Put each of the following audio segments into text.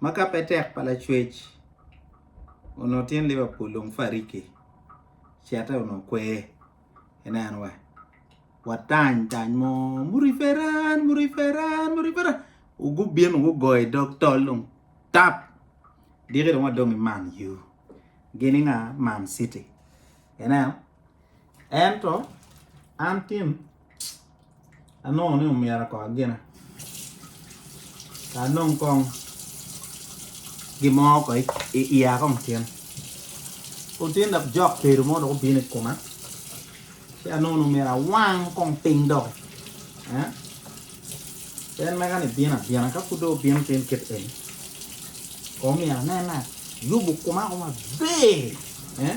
ma ka pe tek pa lacwec onongo tyen Liverpool dong fariki cete onongo kwer ineno wa watany tany mo muriferan muriferan muriferan gubino gugoyo i dog tol dong tap diki dong wadong ki Man U gini nga Man City ineno Ento an Tim anongo ni omyero ako agina ka anong kong gin mo ko i iya kong tyen pud tye dok jok tedo mo dok obino i koma ci anongo ni omyero awang kong piny doki. En mega ni bino abina, ka pud dong obino piny kit eni, kono myero anen ni ayubo koma ko maber. Eh?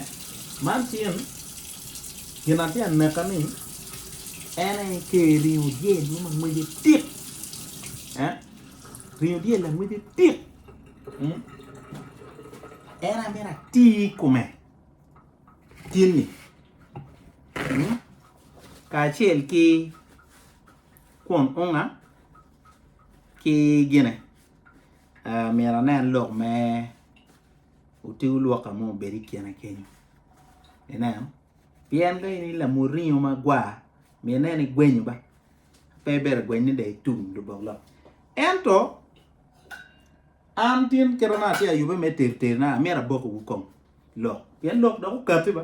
Man tyen gin atye ka neka ni en aye Ker ringo dyel mo ma ngwece dit. Eh? Ringo dyel langwece dit. Mm? En aye myero ati i kome tyenni. Mm? Kacel ki Kun onga ki gine, myero anen lok me oti olwoka mo obed i kine kenyo. Ineno? Pien ka in i lamuringo magwar, myero inen igwenyo ba, pe ibedo agweny ni dong itum lubok lok. Ento, an tin kit ma atye ka yubbe me teriterina, amyero abokiwu kong lok, pien lok dok okatti ba.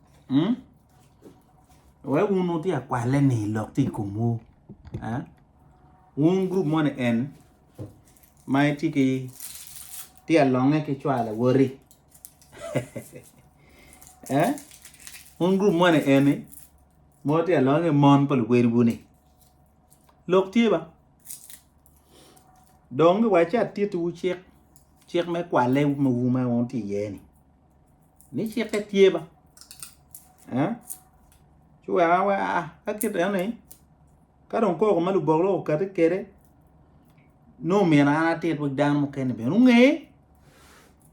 Wek wun wutye akwaleni lok tye i komwu. Wun gurup moni en ma itye ki tye alonge ki cwalo awoti wun gurup moni eni ma wutye alonge ki mon pa luwotwu-ni lok tye ba dong giwaci atittiwu cik cik me kwalle ma wun wutye iye-ni. ni cikke tye ba ci wek ka kite ni ka dong koko ma lubok lok okati kede nongo omyero an atit wek dano mukene bene onge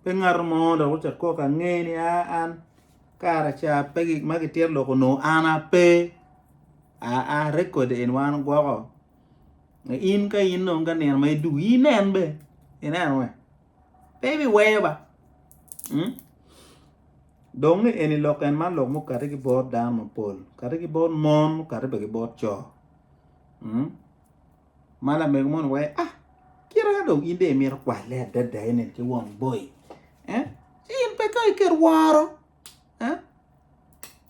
pe ngato mo dok ocit koko ange ni an kara ca pe gik ma kitito lok onongo an ape aa record eni wan ogwoko in ka in dong ka nino ma idwogi inen bene ineno. pe ibiweyo ba. Hmm? Dong ni eni lok en man lok mukati ki bot dano mapol, kati ki bot mon, mukati bene ki bot co. Hmm? Ma lamego moni wee, ah, kira ka dong in de imito kwalle adada enen ki won boy. Eh? Ci in pe ka iket woro. Eh?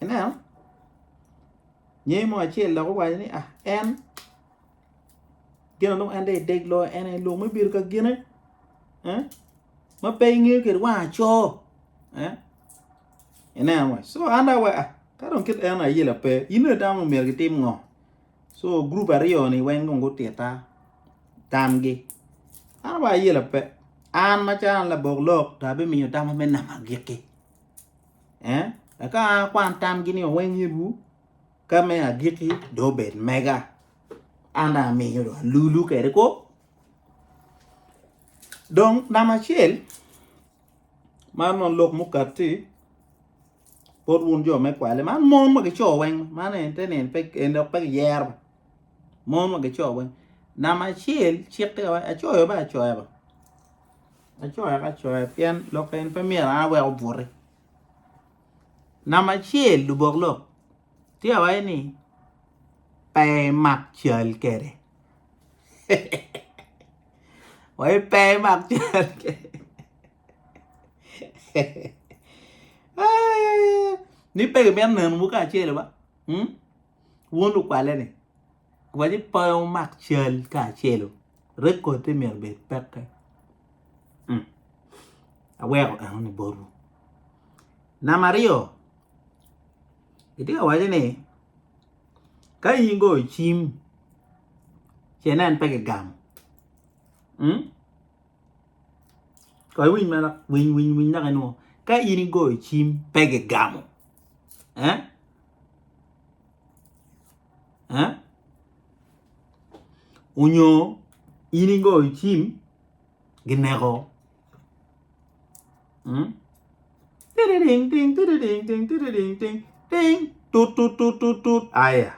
Ineno? Nyeyi mo acel loko waco ni, ah, en gin adongo en dong edeg loyo en aye lok me bedo ka gine ma pe ingeyo kwede wang aco ineno wa so an dong awaco ka dong kit eno ayela pe in dong itamo ni myero gitim ngo so gurup aryo ni weng dong gutitta tamgi an awaco ayela pe an macalo an labok lok dong abimiyo tam ma me namo agikki eka an akwan tamgi ni oweng iruu. Ka me agikki dong obed mega, an dong amiyo dong alulu kwede kwo. Dong namba acel, man dong lok mukati, bot wun jo me kwale, man mon wa ki co weng, man en te nino pe en dok pe kiyero ba, mon wa ki co weng. Namba acel cikke wa, acoyo ba acoya ba, acoya ka acoya pien lok eni pe myero an awek obuti. Namba acel lubok lok tye ka waco ni pe imak cal kwede waci pe imak cal kwede ni pe kimito nenowu kacel wa wun lukwaleni. Waci pe wumak cal kacelu, rekodde myero obed pekke. Hmm. Aweko enoni botwu. Namba aryo, itye ka waco ni ka in goyo cim ci inen pe kigamo. Hmm? Kong iwiny ma dok, winy winy winy dok inwo. Ka in igoyo cim pe kigamo. Eh? onyo in ingo icim gineko aya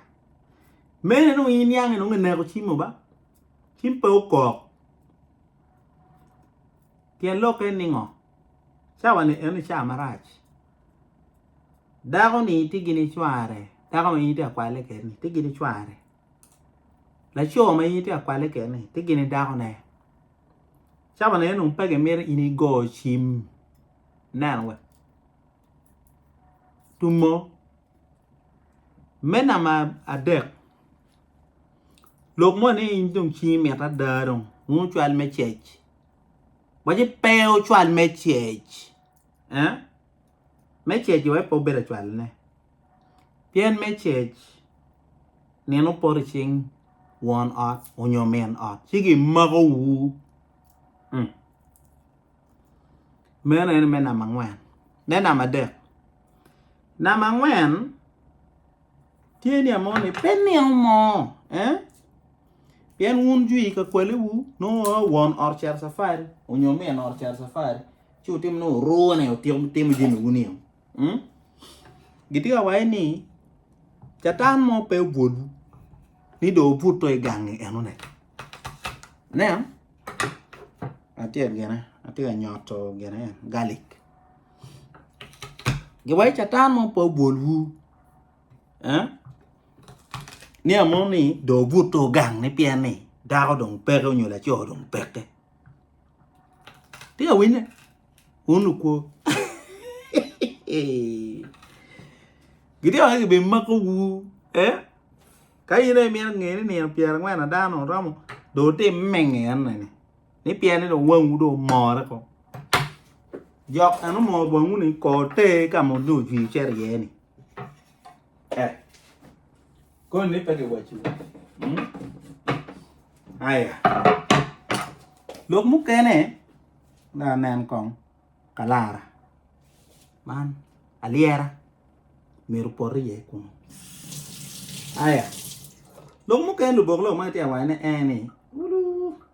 mere dong in niang ni ineko cim mo ba cim pe okok pien lokke ni ngo. Cawa-ni eno ca marac, dako-ni tye gini cware, dako ma in itye ka kwalle kwede-ni tye gini cware, laco ma in itye ka kwalle kwede-ni tye gini dakone. Cawa-ni eno pe gimito in igo cim ineno wa. Tumo me namba adek, lok moni dong cwinyi mit ada dong, nongo cwal me cec. Waci pe ocwal me cec. Eh? Me cec iwe pe obedo acwalne. Pien me cec, nino poto cing won ot onyo min ot, ci gimako wu. Mm. Meno en me nama angwen. Me nama adek. Nama angwen, Tye ni amoni pe nino moo eh pien wun jwi ka kwale wu nongo wongo won ot cito safari onyo min ot cito safari ci wutimo ni wuroo ne wutimo jami wu nino mm gitye ka waci ni catan mo pe obwolwu ni dong wubuto i gangi eno ne ineno latyet gene atye ka nyoto gene garlic. Giwaco Catan mo pe obwolwu niang mo ni dong obutte ogang ni pien ni dako dong peke nyo laco dong peke peya winye wun lukwo gitye wai ki bene mako wu ka in aye imito nge ni nino pyerangwen ada dong oromo dong wutim menge eno ni. ni pienne dong wangwu dong omore ko jok eno mor bongwu ni ko ter ka ma dong ojwi cito iye ni eh koni ni pe giwaci hmm? aya lok mukene da nen kong kalara man alyera myero pot iye kunu aya lok mukene lubok lok ma itye awaco ne en ni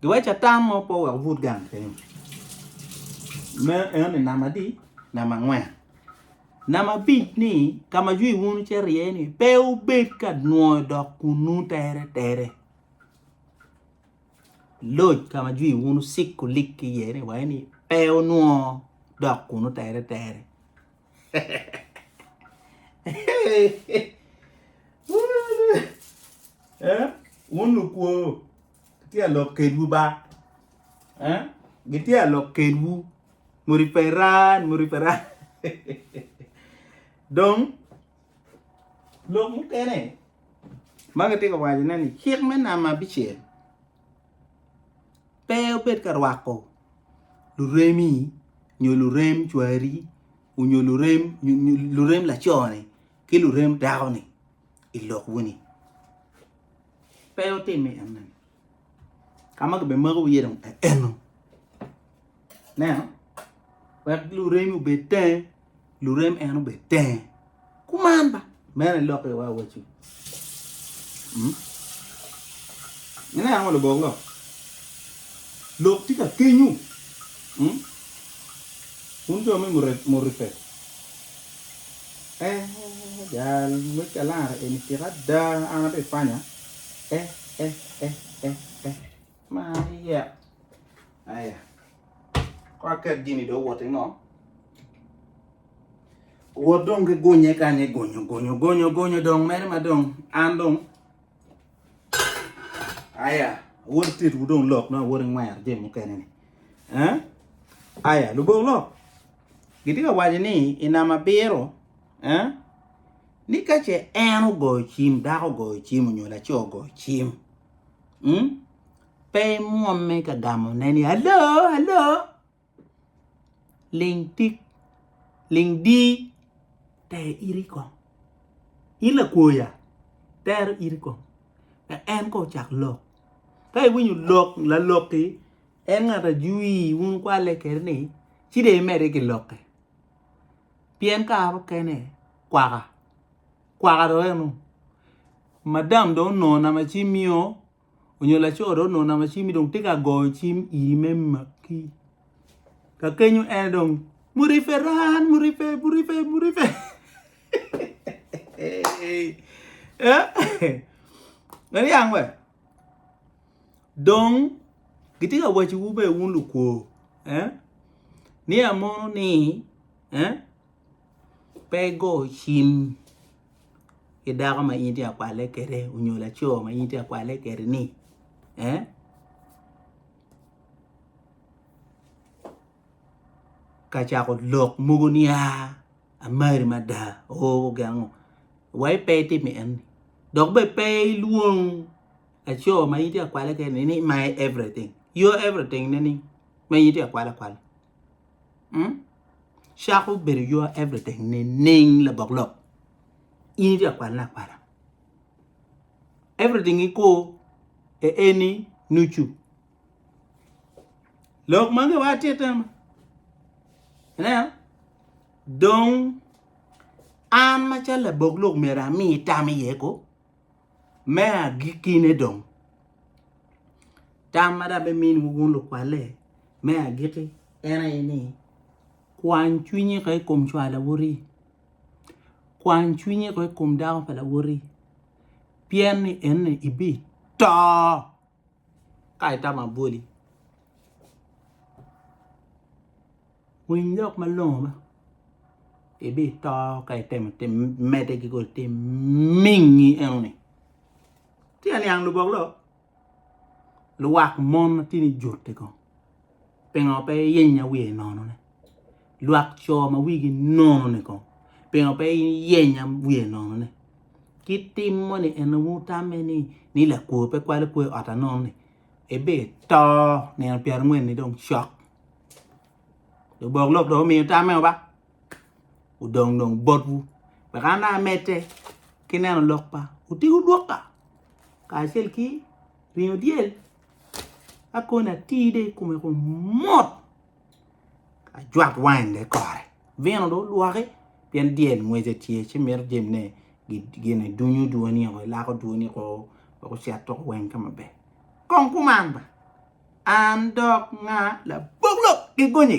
Giwec atam mo po wek obut gang kenyo. Me enoni namba adi? Namba angwen. Namba abic ni ka ma jwi wunu ce rye ni pe wubed ka nwoyo dok kunnu tere tere. Loc ka ma jwi wunu sik kulik ki iye ni waye ni pe wunwoo dok kunnu tere tere. Eh, wun lukwo, Gitye ka lok kedwu ba eh gitye ka lok kedwu muni pe ran muni pe ran dong lok mukene ma kitye ka wacone ni cik me namba abicel pe obed ka rwako luremi nyo lurem cwari onyo lurem lurem laco-ni ki lurem dako-ni i lok moni. Pe wutimi enoni. Ka ma gibimako iye dong enno. Ineno? Wek luremi obed tenge, lurem en obed tenge. Kuman ba, meno aye lok iwa awaci. Hmm? Ineno ngo lubok lok? Lok tye ka kenyu. Hmm? Wun jo me murifet. Eh, jal me kalara eni tika ada, an abbe panya. Eh, eh, eh, eh, eh. Maria. Aya. Ko aket gini do wote ngo. Wot dong ki gunye kanye gunyo gunyo gunyo gunyo dong mere ma dong an dong aya wot tit wu dong lok na wot ngwer je mukene ni eh aya lubok lok Gitye ka waco ni i namba abiro ni ka ce en ogoyo cim, dako ogoyo cim onyo laco ogoyo cim, pe imwomme ka gamone ni alo, alo, ling tik, ling di ter iti kong. In lakwoya tero iti kong. En kong ocak lok. Ka iwinyo lok, lalok-ki. En ngat ajui, wun kwalle kene ni, ci dong imedde ki lokke. Pien kare mukene kwaka, kwaka dong eno, madam dong onongo namba cimmi o, onyo laco dong onongo namba cimmi dong tye ka goyo cim iri me makki. Ka kenyo en aye dong, Muriferan, murife, murife, murife. Eniang we? Dong gitye ka wacowu bene wun lukwo ni amono ni pe igo cim ki dako ma in itye ka kwalle kwede nyo laco ma in itye ka kwalle kwede-ni ka cako lok mogo niya. Amari mada, oo gengo wa ipe itimo enni. Dok bene pe ilwong laco ma in tye ka kwale kene ni my everything. Your everything ne ni ma in tye ka kwale akwala. Mm? Cako bedo your everything ne ning labok lok. In itye ka kwalane akwala. Everything iko e eni nucu Lok mange wa titte ma. Ineno? Dong an macalo labok lok myero ami tam iye ko me agikkine dong. Tam ma dong biminwu wun lukwalle me agikki en aye ni kwany cwinyi ko i kom cwar lawoti, kwany cwinyi ko i kom dako pa lawoti pien ni eni ibito. ka itamo abwoli winy lok malongo ma ibito ka itemo mede ki kodi te mingi enoni tye aniang lubok lok luwak mon ma tye ni jote kong Pingo pe iyenyo wiye nono ne? Lwak co ma wigi nono ni kong. Pingo pe iyenyo wiye nono ne? Ki tim mo ni en wu tamme ni ni lakwo pe kwalo kwe ot anono ni ebe to nino pyera ngwen ni dong cok. Lubok lok do miyo tamme oba. Udong dong bot wu. Beka ana amete ki neno lok pa utigu dwoka. Kacel ki ringo dyel. Akon atir dong i kome kun mot ajwak wain dong kore vino dong olwoki pien dyel ngwece tye ci mito jami gin dunyo dwoni woko ilako dwoni woko wek ocit oko weng ka maber kong kuman ba an dok nga labok lok ki gonye.